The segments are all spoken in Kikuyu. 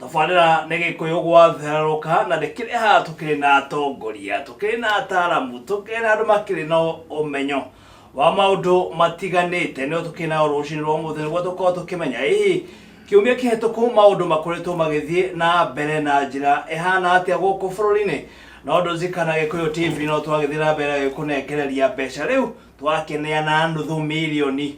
tabarĩra nĩ gĩkũyũ gwatherũka na nĩ kĩrĩ haha tũkĩrĩ na atongoria tũkĩrĩ na ataaramu tũkĩrĩ na andũ makĩrĩ na ũmenyo wa maũndũ matiganĩte nĩo tũkĩrĩ nao rũcinĩ rwa mũthĩ nĩguo tũkorwo tũkĩmenya ĩĩ kiumia kĩhetũku maũndũ makoretwo magĩthiĩ na mbere na njĩra ĩhana atĩa gũkũ bũrũri-inĩ na ũndũ zika na gĩkũyũ tv no twagĩthiĩ na mbere gũkũnengereria mbeca rĩu twakeneana nuthu mirioni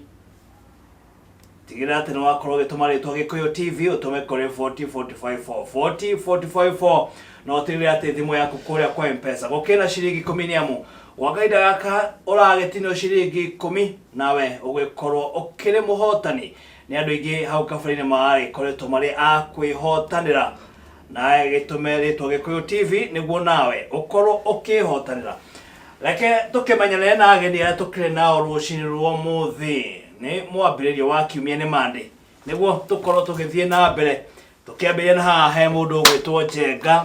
tigĩrĩra atĩ nĩ wakorwo ũgĩtũma rĩtwa gĩkũyũ tv ũtũme kũrĩ 40454 na ũtigĩrĩre atĩ thimũ yaku kũrĩa kwa mpesa gũkĩrĩ na ciringi ikũmi nĩ amu gwa kahinda gaka ũragĩtinio ciringi ikũmi nawe ũgĩkorwo ũkĩrĩ mũhotani nĩ andũ aingĩ hau kabere-inĩ maragĩkoretwo marĩ a kwĩhotanĩra nawe gĩtũme rĩtwa gĩkũyũ tv nĩguo nawe ũkorwo ũkĩhotanĩra reke tũkĩmenyane na ageni arĩa tũkĩrĩ nao rũcinĩ rwa mũthĩ nĩ mwambĩrĩrio wa kiumia nĩ mande nĩguo tũkorwo tũgĩthiĩ na mbere tũkĩambĩrĩria na haha he mũndũ ũgwĩtwo njenga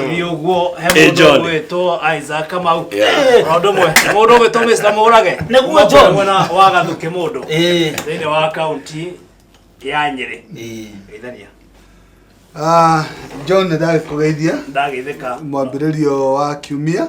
ni ũguo he mũndũ John. ũgwĩtwo isaac kamau Yeah. ũndũ mwe mũndũ ũgwĩtwo mr mũrage Nĩguo John. mwena wa gathũkĩ mũndũ Eh. thĩinĩ wa kaunti ya nyĩrĩ Eh. geithania Ah, john nĩ ndagĩkũgeithia ndagĩthĩka mwambĩrĩrio wa kiumia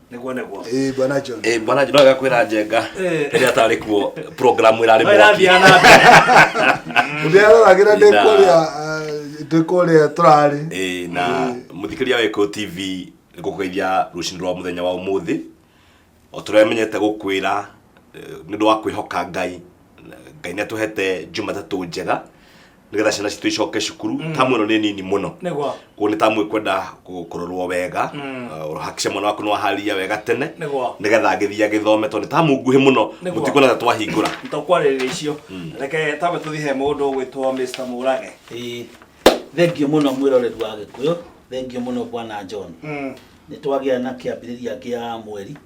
niguo niguo Eh, bwana John. Eh, bwana no gakwira njenga rĩrĩa atarĩ kuo programu ĩrarĩ No mwaki ĩrathiaga na mbere. Ũrĩa aroragĩra ndĩ Na- kũrĩa ah, ndĩ kũrĩa tũrarĩ. Eh, na mũthikĩria wa Echo TV nĩ gũkũgeithia rũcinĩ rwa mũthenya wa ũmũthĩ o tũrĩa menyete gũkwĩra eh, nĩ ũndũ wa kwĩhoka ngai ngai nĩ atũhete jumatatũ njega nĩgetha ciana citũ icoke cukuru mm. tamu ĩno nĩ nini mũno koguo nĩ tamu ĩkwenda kũrorwo wega mm. uh, ũhakice mwana waku nĩwaharĩria wega tene nĩgetha agĩthiĩ agĩthome tondũ nĩ tamu nguhĩ mũno mũtikuona ta twahingũra tũkwarĩrĩria icio mm. reke tambe tũthiĩ he mũndũ ũgwĩtwo Mr Mũrage thengio mũno mwĩroreri wa gĩkũyũ thengio mũno bwana John nĩ twagĩa na kĩambĩrĩria kĩa mweri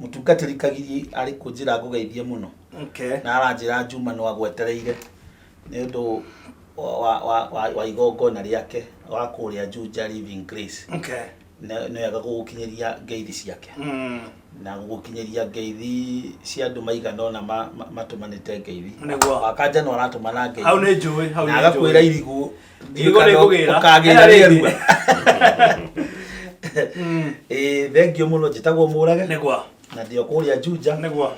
Mũtungatĩri Kagigi arĩ kũ njĩra ngũgeithie mũno? Okay. Na aranjĩra Juma no agwetereire nĩ ũndũ wa, wa, wa, wa, wa igongona rĩake wa kũrĩa Juja Living Grace. Okay. Nĩ nĩ wega gũgũkinyĩria ngeithi ciake Mm. na gũgũkinyĩria ngeithi cia andũ maigana ũna ma- ma- matũmanĩte ngeithi. Nĩguo. Wakanja no aratũmana ngeithi. Hau nĩ njũĩ, hau Na nĩ agakwĩra njũĩ. irigũ Ngigo nĩ ngũgĩra. Ũkagĩra Ena rĩngĩ. rĩerua. Eh, thengio mũno njĩtagwo mũrage Nĩgwa. na ndĩo kũrĩa njunja Nĩgwa.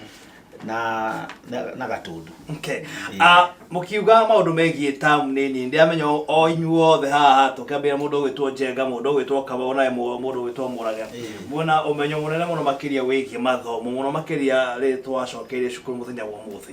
na na- na gatundu Okay. Ah, mũkiuga maũndũ megiĩ tamu nĩ nini ndĩramenya o- o inyuothe haha tũkĩambĩra mũndũ ũgwĩtwo njenga mũndũ ũgwĩtwo kaba ona ĩmwe mũndũ ũgwĩtwo mũraga Ĩĩ. muona ũmenyo mũnene mũno makĩria wĩgiĩ mathomo mũno makĩria rĩ twacokeire cukuru mũthenya wa ũmũthĩ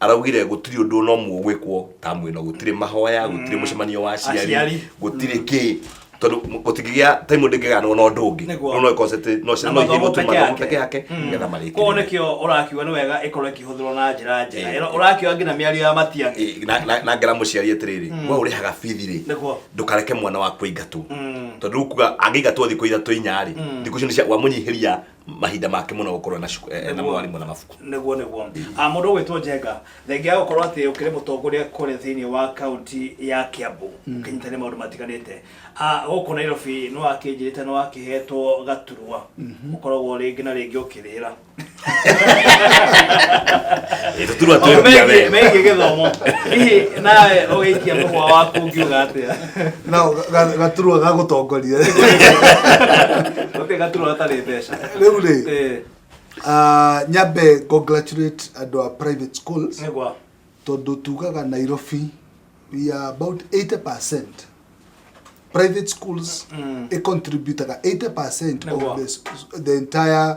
araugire gũtirĩ ũndũ ona ũmwe ũgwĩkwo tamu ĩno gũtirĩ mahoya gũtirĩ mũcemanio wa aciari Aciari. gũtirĩ kĩ tondũ m- gũtingĩgĩa taimu ndĩngĩganwo na ũndũ ũngĩ Nĩguo. no no ĩkorwo atĩ no ciana no ithiĩ gũtuma mathomo peke yake nĩgetha koguo marĩkĩrĩre nĩkĩo ũrakiuga nĩ wega ĩkorwo ĩkĩhũthĩrwo na njĩra njega Eh. Ĩra- ũrakiuga nginya mĩario ya matiang'i Ĩ, na- na- na ngera mũciari atĩrĩrĩ we ũrĩhaga bithi rĩ Nĩguo. ndũkareke mwana waku aingatwo tondũ rĩu kuga angĩingatwo thikũ ithatũ inyarĩ thikũ icio nĩ cia- wamũnyihĩria mahinda make mũno gũkorwo na cuku- eh, na mwarimũ na mabuku nĩguo nĩguo Ah, mũndũ ũgwĩtwo njenga thengia ya gũkorwo atĩ ũkĩrĩ mũtongoria kũrĩa thĩinĩ wa kaunti ya kiambu ũkĩnyitane maũndũ matiganĩte Ah, gũkũ nairobi nĩ wakĩnjĩrĩte nĩ wakĩhetwo gaturwa ũkoragwo rĩngĩ na rĩngĩ ũkĩrĩra tũturwa Maũndũ twĩrutia megiĩ- wega megiĩ gĩthomo hihi nawe ũgĩikia mũhwa waku ngiuga atĩa nao ga- gaturwa gagũtongoria Gũtirĩ gaturwa gatarĩ mbeca. rĩu rĩ Eh, ah, nyambe congratulate andũ a private schools nĩ gwa. tondå tugaga nairobi we are about 80 private schools Mm. mm. contributaga 80 Nĩguo. of the, s- the entire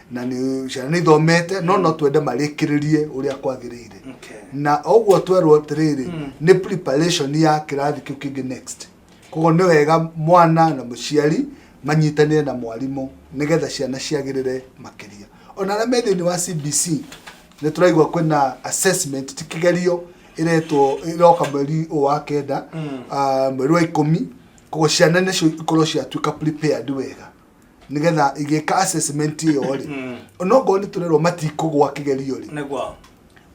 na nĩ ciana nĩ ithomete no no twende marĩkĩrĩrie ũrĩa kwagĩrĩire Okay. na ũguo twerwo atĩrĩrĩ Mm. nĩ preparation ya kĩrathi kĩu kĩngĩ next koguo nĩ wega mwana na mũciari manyitanĩre na mwarimũ nĩgetha ciana ciagĩrĩre makĩria ona arĩa me thĩinĩ wa cbc nĩ tũraigua kwĩna assessment ti kĩgerio ĩretwo ĩroka mweri ũyũ wa kenda Mm. ah, mweri wa ikũmi koguo ciana nĩcio ikorwo ciatuĩka prepared wega nĩgetha igĩka assessment ĩyo rĩ Mm. onokorwo nĩ tũrerwo matikũgwa kĩgerio rĩ nĩguo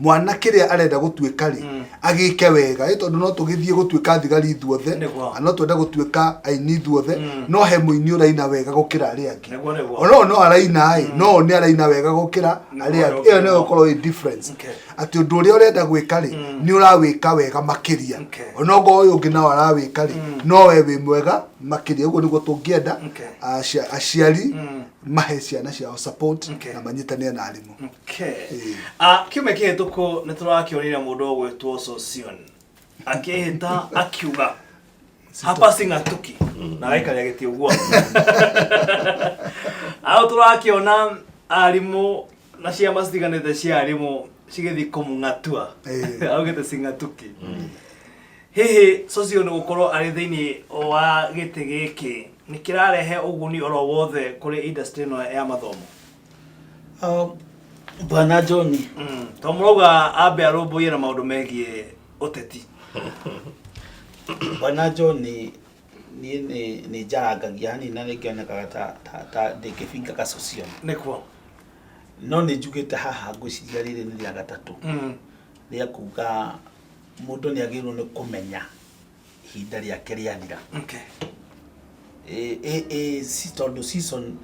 mwana kĩrĩa arenda gũtuĩka rĩ Mm. agĩke wega ĩ tondũ no tũgĩthiĩ gũtuĩka thigari ithuothe Nĩguo. na no twende gũtuĩka aini ithuothe Mm. no he mũini ũraina wega gũkĩra arĩa angĩ Nĩguo, nĩguo. onoo no araina ĩ no one araina wega gũkĩra Nĩguo, arĩa angĩ nĩguo. ĩyo nĩyo ĩkorwo ĩ difference Okay. atĩ ũndũ ũrĩa ũrenda gwĩka rĩ Mm. nĩ ũrawĩka wega makĩria Okay. onogo ũyũ ũngĩ nao arawĩka rĩ Mm. no we wĩ mwega makĩria ũguo nĩguo tũngĩenda Okay. acia- aciari Mm. mahe ciana ciao support Okay. na manyitanĩre na arimũ Okay. Ĩĩ. Ah, kiumia kĩhĩtũku nĩ tũrakĩonire mũndũ ũgwĩtwo Sosion akĩhĩta akiuga hapa sing'atuki na gaikarĩa gĩtĩ ũguo au tũrakĩona arimũ na ciama citiganĩte cia arimũ cigĩthiĩ kũmũng'atua Ĩĩ. augĩte sing'atuki Hihi Socio nĩ gũkorwo arĩ thĩinĩ wa gĩtĩ gĩkĩ nĩ kĩrarehe ũguni oro wothe kũrĩ industry ĩno ya mathomo? Ah, Bwana John, Mm. To mũrauga ambe arũmbũiye na maũndũ megiĩ ũteti. Bwana John niĩ nĩ nĩ njarangagia hanini na nĩ ngĩonekaga ta ta- ta ndĩngĩbinga gacocio Nĩkuo. no nĩ njugĩte haha ngwĩciria rĩrĩ nĩ rĩa gatatũ Mm. rĩa kuga mũndũ nĩ agĩrĩirwo nĩ kũmenya ihinda rĩake rĩathira Okay. Ĩ- ĩ- ĩ, si tondũ season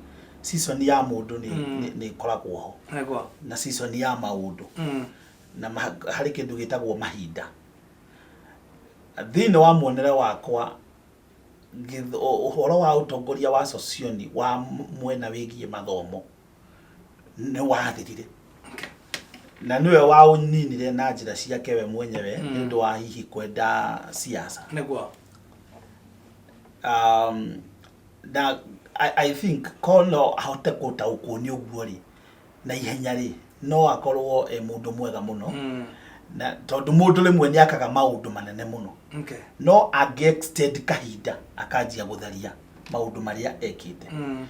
season ya mũndũ nĩ Mm. nĩ- nĩ ĩkoragwo ho Nĩguo. na season ya maũndũ Mm. na ma- harĩ kĩndũ gĩtagwo mahinda thĩinĩ wa muonere wakwa gĩth- ũ- ũhoro wa ũtongoria wa socioni wa m- mwena wĩgiĩ mathomo nĩ wathirire na nĩwe waũninire na njĩra ciake we mwenyewe nĩ ũndũ wa hihi kwenda siasa nĩguo um, na I, I think ko no ahote gũtaũkwo nĩ ũguo rĩ na ihenya rĩ no akorwo e mũndũ mwega mũno Mm. na tondũ mũndũ rĩmwe nĩ akaga maũndũ manene mũno okay no angĩ extend kahinda akanjia gũtharia maũndũ marĩa ekĩte Mm.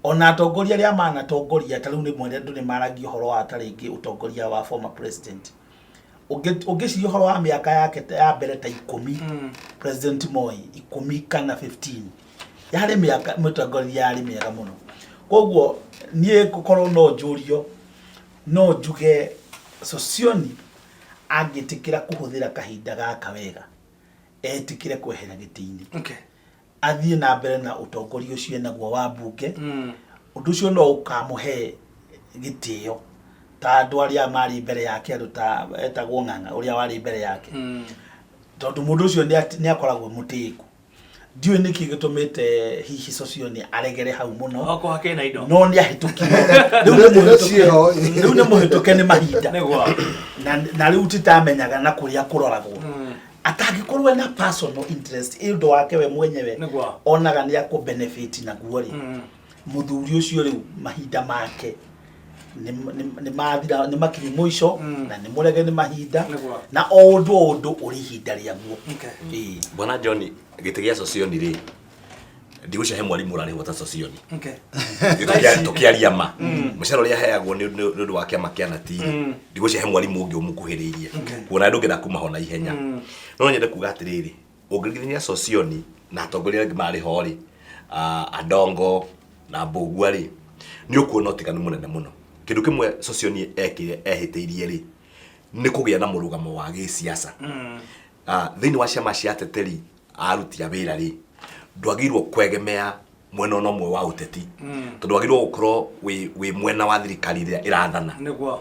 Ona atongoria arĩa manatongoria ta rĩu rĩmwe andũ nĩ maragia ũhoro wa ta rĩngĩ ũtongoria wa former president. Ũngĩ- Ũngĩciria ũhoro wa mĩaka yake ta- ya mbere ta ikũmi Mm. president Moi ikũmi kana 15 yarĩ mĩaka mũtongoria yarĩ mĩega mũno. Koguo niĩ ngũkorwo no njũrio no njuge Sosioni angĩtĩkĩra kũhũthĩra kahinda gaka wega etĩkĩre kwehera gĩtĩ-inĩ Okay. athiĩ na mbere na ũtongoria ũcio enaguo wa mbunge mm. ũndũ ũcio no ũkamũhe gĩtĩo ta andũ arĩa marĩ mbere yake andũ ta etagwo ng'ang'a ũrĩa warĩ mbere yake mm. tondũ mũndũ ũcio nĩ akoragwo mũtĩku ndiũĩ nä kä gä tå mä te hihi cocio nä aregere hau må no no nä ahätå kire rä u nä må hä tå ke nä mahinda na rä u titamenyaga na kå rä a kå roragwo mm. atangĩkorwo ena personal interest ĩ ũndũ wake we mwenyewe Nĩguo. onaga nĩ akũ benefit naguo rĩ Mm. muthuri ucio riu mahinda make nĩ- nĩ- nĩ mathira nĩ makiri mũico Mm. na nĩ mũrege nĩ mahinda Nĩguo. na o ũndũ o ũndũ ũrĩ ihinda rĩaguo Okay. Ĩĩ. bwana john gĩtĩ gĩa socioni rĩ ndigũcahe mwarimũ ũrarĩ gwata socioni Okay. tũkĩaria ma Mm. mũcara ũrĩa heagwo nĩ nĩ- nĩ ũndũ wa kĩama kĩa natiri Mm. ndigũcahe mwarimũ ũngĩ ũmũkuhĩrĩirie Okay. kuona andũ ngenda kuma ho na ihenya Mm. no nyende kuga atĩrĩrĩ ũngĩringithania socioni na atongoria angĩ marĩ ho rĩ ah, andongo na mbũgua rĩ nĩ ũkuona ũtiganu mũnene mũno kĩndũ kĩmwe socioni ekire ehĩtĩirie rĩ nĩ kũgĩa na mũrũgamo wa gĩsiasa Mm. Ah, thĩinĩ wa ciama cia ateteri arutira wĩra rĩ ndwagĩrĩirwo kwegemea mwena ona ũmwe wa ũteti tondũ wagĩrĩirwo gũkorwo wĩ wĩ mwena wa thirikari ĩrĩa ĩrathana nĩguo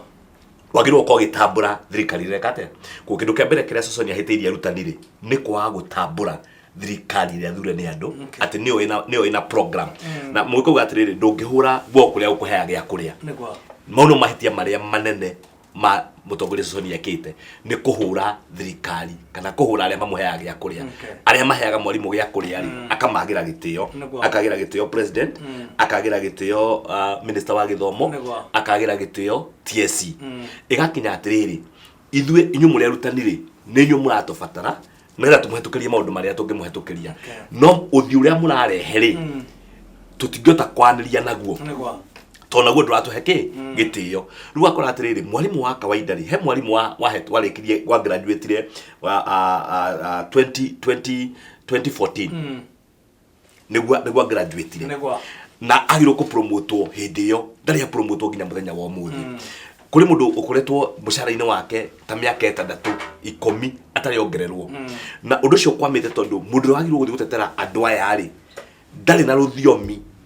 wagĩrĩirwo gũkorwo ũgĩtambũra thirikari ĩrĩa ĩreka atĩa kũ kĩndũ kĩa mbere kĩrĩa ceconi ahĩtĩirie arutani rĩ nĩ kwaga gũtambũra thirikari ĩrĩa thure nĩ andũ Okay. atĩ nĩyo ĩna- nĩyo ĩna program na mũgĩkauga atĩrĩrĩ ndũngĩhũra guo kũrĩa gũkũheaga gĩa kũrĩa nĩguo mau nĩ mahĩtia marĩa manene ma mutongoria Sosoni ekite ni kuhura thirikari kana kuhura aria mamuheaga gia kuria Okay. aria maheaga mwarimu gia kuria ri akamagira gitio Nĩguo. akagira gitio president akagira gitio uh, minister wa githomo Nĩguo. akagira gitio TSC igakinya atiriri ithuĩ inyuĩ mũrĩ arutani rĩ nĩ inyuĩ mũratũbatara nĩgetha tũmũhetũkĩrie maũndũ marĩa tũngĩmũhetũkĩria no ũthiũ ũrĩa mũrarehe rĩ mm. tũtingĩhota kwanĩria naguo tondũ naguo ndũratũhe kĩ mm. gĩtĩo rĩu akora atĩrĩrĩ mwarimũ wa kawaida rĩ he mwarimũ warĩkirie wa graduatire 2014 mm. nĩguo nĩguo graduate-rĩ, Nĩguo. na agirwo kå promotwo hĩndĩ ĩyo ndarĩ a promotwo nginya mũthenya wa ũmũthĩ kũrĩ mũndũ ũkoretwo mũcara-inĩ wake ta mĩaka ĩtandatũ ikũmi atarĩ ongererwo na ũndũ ũcio ũkwamĩte tondũ mũndũ ũrĩa wagirwo gũthiĩ gũtetera andũ aya-rĩ ndarĩ na rũthiomi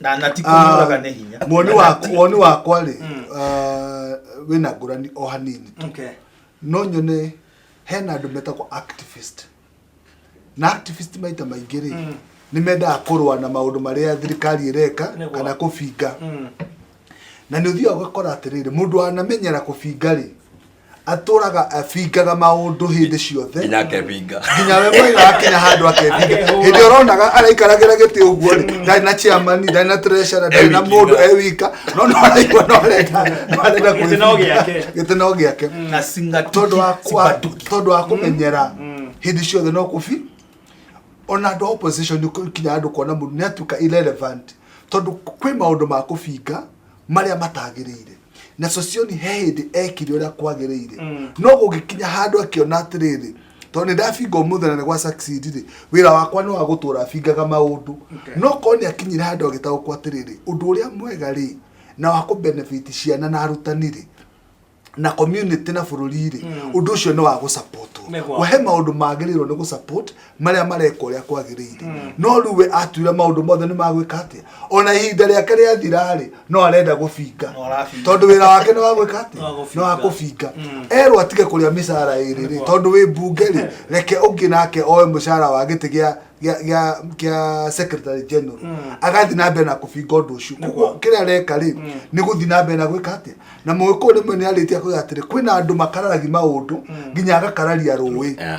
na na ti kũmũraga nĩ hinya Ah, woni wakwa woni wakwa rĩ ah, wĩna ngũrani o hanini tu okay no nyone hena andũ metagwo activist na activist maita maingĩ rĩ nĩ mendaga kũrũa na maũndũ marĩa thirikari ĩreka Nĩguo. kana kũbinga Mm. na nĩ ũthiaga ũgakora atĩrĩrĩ mũndũ wanamenyera kũbinga rĩ atũraga abingaga maũndũ hĩndĩ ciothe nginya akebinga nginya we mwai wakinya handũ akebinga hĩndĩ ũronaga araikaragĩra gĩtĩ ũguo rĩ ndarĩ na chairman ndarĩ na treasurer ndarĩ na Ewika. mũndũ ewika no no araigua no arenda no arenda Gĩtĩ no gĩake. gĩtĩ no gĩake tondũ wa kwa- tondũ wa kũmenyera hĩndĩ ciothe no kũbi ona andũ a opposition nĩ kinya andũ kuona mũndũ nĩ atuĩka irrelevant tondũ kwĩ maũndũ ma kũbinga marĩa matagĩrĩire na socioni he hĩndĩ ekire ũrĩa kwagĩrĩire mm. no gũgĩkinya handũ akĩona atĩrĩrĩ tondũ nĩ ndabinga ũmũthĩ na nĩ gwa succeed rĩ wĩra wakwa nĩ wa gũtũra bingaga maũndũ no korwo nĩ akinyire handũ agĩtaũkwo atĩrĩrĩ ũndũ ũrĩa mwega rĩ na wa kũbenefit ciana na arutani rĩ na community na bũrũri rĩ mm. ũndũ ũcio nĩ wa gũsapotwo wahe maũndũ magĩrĩirwo nĩ gũsapot marĩa mareka ũrĩa kwagĩrĩire hmm. no rĩu we atuire maũndũ mothe nĩ magwĩka atĩa ona ihinda rĩake rĩathira-rĩ no arenda gũbinga tondũ wĩra wake nĩ wa gwĩka atĩa nĩ wa gũbinga hmm. erwo atige kũrĩa mĩcara ĩrĩ-rĩ tondũ wĩ mbunge-rĩ reke ũngĩ nake oe mũcara wa gĩtĩ gĩa gĩa secretary general hmm. agathi na mbere na kũbinga ũndũ ũcio koguo kĩrĩa areka rĩ hmm. nĩ gũthi na mbere na gwĩka atĩa na mũgĩkũyũ rĩmwe nĩ arĩtie kuga atĩrĩ kwĩna andũ makararagia maũndũ hmm. nginya agakararia rũĩ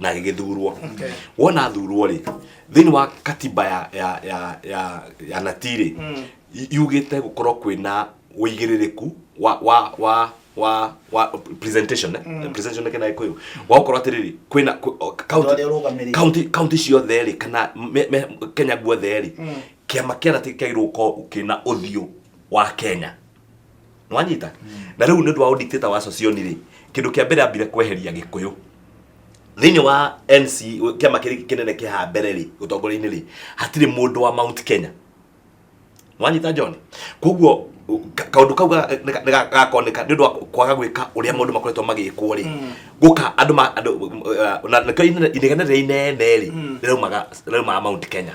na agĩgĩthurwo wona athurwo rĩ thĩinĩ wa katiba ya ya ya ya ya natii rĩ yugĩte gũkorwo kwĩna ũigĩrĩrĩku wa wa wa wa wa presentation eh? presentation nĩ kĩna gĩkũyũ wa gũkorwo atĩrĩrĩ kwĩna kwĩ- o- county- ũrĩa ũrũgamĩrĩire. county county ciothe rĩ kana me- me- kenya guothe rĩ kĩama kĩa natii kĩagĩrĩirwo gũkorwo kĩna ũthiũ wa kenya nwanyita na rä u nä å ndå wa å dictator wa socioni rä kä ndå kä a mbere ambire kweheria gä kå yå thä inä wa nc kä ama kä rä kä nene kä ha mbere rä å tongoria-inä rä hatirä må ndå wa mount kenya wanyita john koguo kaundu kau ga- nĩ ga- nĩ ga- gakoneka nĩ ũndũ wa kwaga gwĩka ũrĩa maũndũ makoretwo magĩkwo rĩ gũka andũ ma- andũ, uh, na nĩkĩo inene- inegene rĩrĩa inene rĩ rĩraumaga rĩraumaga mount kenya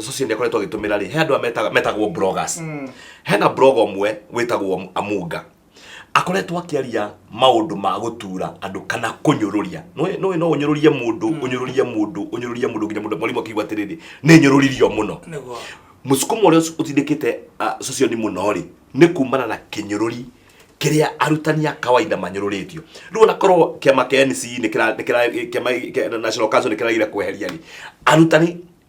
social nä akoretwo agä tå mä ra rä he andå a metagwo bloggers hena blog ũmwe wĩtagwo amunga akoretwo akĩaria maũndũ ma gũtura andũ kana kũnyũrũria Nĩũĩ- nĩũĩ no ũnyũrũrie mũndũ ũnyũrũrie mũndũ ũnyũrũrie mũndũ nginya mũndũ mwarimũ akĩigua atĩrĩrĩ nĩ nyũrũririo mũno Nĩguo. mũsukuma ũrĩa ũci- ũtindĩkĩte ah, socioni mũno rĩ nĩ kumana na kĩnyũrũri kĩrĩa arutani a kawaida manyũrũrĩtio rĩu onakorwo kĩama kĩa NC nĩ kĩra- nĩ kĩra- kĩama kĩa National Council nĩ kĩragire kweheria rĩ arutani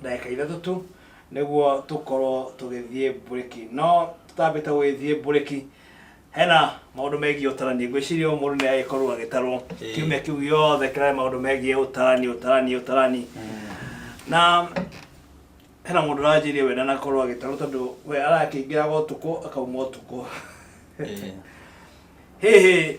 ndagĩka ithatũ tu nĩguo tũkorwo tũgĩthiĩ mburĩki no tũtambĩte gũgĩthiĩ mburĩki hena maũndũ megiĩ ũtarani ngwĩciria o mũndũ nĩ agĩkorwo agĩtarwo Ĩĩ. kiumia kĩu gĩothe kĩrarĩ maũndũ megiĩ ũtarani ũtarani ũtarani na hena mũndũ ũranjĩirie we ndanakorwo agĩtarwo tondũ we arakĩingĩraga ũtukũ akauma ũtukũ Ĩĩ. hihi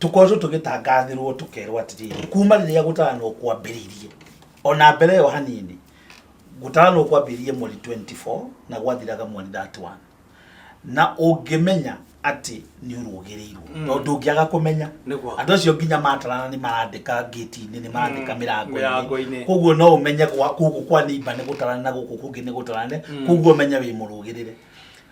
tũkoretwo tũgĩtangathĩrwo tũkerwo atĩrĩrĩ kuma rĩrĩa gũtaranwo kwambĩrĩirie ona mbere ĩyo hanini gũtaranwo kwambĩrĩirie mweri 24 na gwathiraga mweri 31 na ũngĩmenya atĩ nĩ ũrũgĩrĩirwo Mm. tondũ ndũngĩaga kũmenya Nĩguo. andũ acio nginya matarana nĩ marandĩka ngĩti-inĩ nĩ marandĩka Mm, mĩrango-inĩ mĩrango-inĩ. koguo no ũmenye gwa- gũkũ kwa nĩimba nĩ gũtarane na gũkũ kũngĩ nĩ gũtarane Mm. koguo ũmenye wĩ mũrũgĩrĩre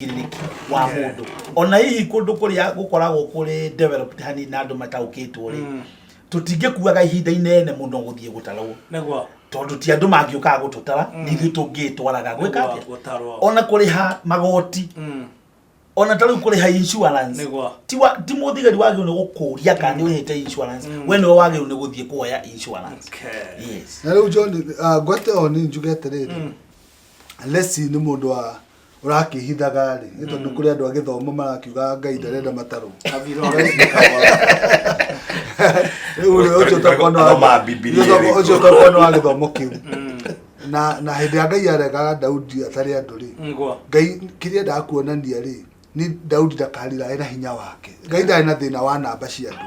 wĩigĩrĩrĩki wa mũndũ ona hihi kũndũ kũrĩa gũkoragwo kũrĩ developed hani na andũ mataũkĩtwo rĩ tũtingĩkuaga ihinda inene mũno gũthiĩ gũtarwo nĩguo tondũ ti andũ mangĩũkaga gũtũtara nĩ ithuĩ tũngĩtwaraga gwĩka atĩa gũtarwo ona kũrĩha magoti Mm. ona ta rĩu kũrĩha insurance Nĩguo. ti wa- ti mũthigari wagĩrĩirwo nĩ gũkũria kana nĩ ũrĩhĩte insurance we nĩwe wagĩrĩirwo nĩ gũthiĩ kuoya insurance Okay. yes na rä u john ah, ngwate o nä njuge atä rä rä lesi nä må ndå wa ũrakĩhithaga rĩ nĩ tondũ kũrĩ andũ a gĩthomo marakiuga ngai ndarenda matarũ rĩu rĩ, ũcio ũtakorwo nĩ wa- Thoma Bibilia ũcio ũtakorwo- ĩrĩkũ? ũcio ũtakorwo nĩ wa gĩthomo kĩu na na hĩndĩ ya ngai aregaga daudi atarĩ andũ rĩ ngwa ngai kĩrĩa endaga kuonania rĩ nĩ daudi ndakarirae na hinya wake ngai ndarĩ na thĩna wa namba cia andũ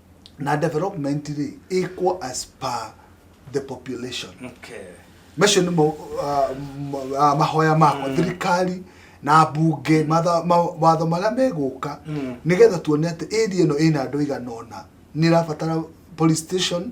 na development rĩ equal as per the population Okay. macio nĩ mo- ah, m- ah, mahoya makwa thirikari na mbunge matha- ma- watho marĩa megũka nĩgetha tuone atĩ area ĩno ĩna andũ igana ũna nĩ ĩrabatara police station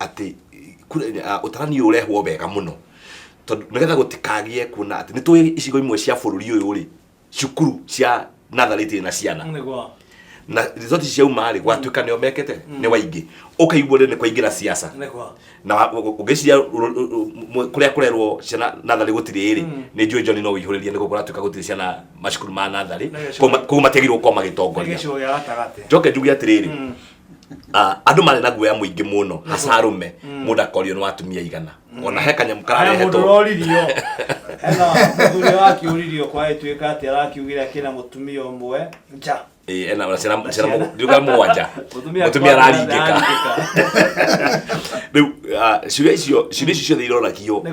atĩ kura- eh, ah, ũtarani ũyũ ũrehwo wega mũno tondũ nĩgetha gũtikagĩe kuona atĩ nĩ tũĩ icigo imwe cia bũrũri ũyũ rĩ cukuru cia natharĩ itirĩ na ciana nĩguo na resort ciauma rĩ gwatuĩka nĩo mekĩte nĩ waingĩ ũkaigua rĩ nĩ kwaingĩra siasa nĩguo na wa- ũ- ũ- ũngĩciria ũ- ũ- ũ- mũ- kũrĩa kũrerwo ciana natharĩ gũtirĩ rĩ nĩ njũĩ njoni no ũihũrĩrie nĩ gũkorwo atuĩka gũtirĩ ciana macukuru ma natharĩ Na gĩcigo- koguo matiagĩrĩirwo gũkorwo nĩ magĩtongoria gĩcigo gĩa gatagatĩ njoke njuge atĩrĩrĩ ah, andå marä na guoya må ingä må no hacarå me mm. må ndå akorio nä watumia igana mm. ona he kanyamå kararehetwo roririo hena må thuri wakä å ririo kwaä tuä ka atä arakiugä re akä na må tumia å mwe nja ena na ciana ciana nduka mwanja mutumia araringika riu ciuria icio ciuria icio ciothe iroragio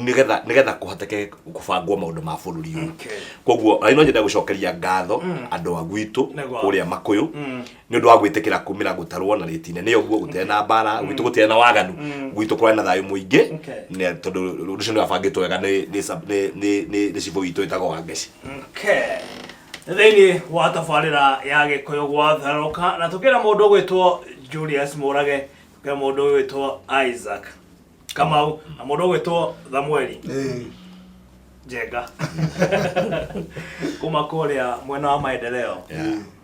nigetha nigetha kuhoteke kubangwo maundu ma bururi uyu koguo ari no nyende gucokeria ngatho andu a gwitu kuria makuyu nä å ndå wa gwä tä kä ra kå mä ra gå tarwo na rä tine nä å guo gå tä na mbara gwitå gå tä na waganu gwitå kå rarä na thayå må ingä tondå å ndå å cio nä wabangä two wega nä cibå witå ä tagwo wangeci thĩinĩ wa tabarĩra ya gĩkũyũ gwatharũka na tũkĩra mũndũ ũgwĩtwo julius mũrage tũkĩra mũndũ ũgwĩtwo isaac kamau na mũndũ ũgwĩtwo thamueli njenga kuma kũrĩa mwena wa maendeleo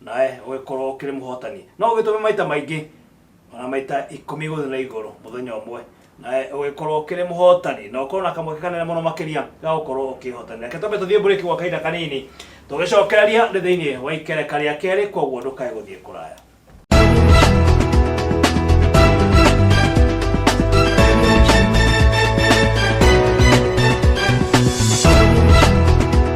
nawe ũgĩkorwo ũkĩrĩ mũhotani no ũgĩtũme maita maingĩ ona maita ikũmi igũrũ na igũrũ mũthenya ũmwe nawe ũgĩkorwo ũkĩrĩ mũhotani na ũkorwo na kamweke kanene mũno makĩria ga gũkorwo ũkĩhotanĩra reke twambe tũthiĩ mbũrĩki gwa kahinda kanini tũgĩcokereria nĩ thĩinĩ wa ikereka rĩa kerĩ koguo ndũkae gũthiĩ kũraya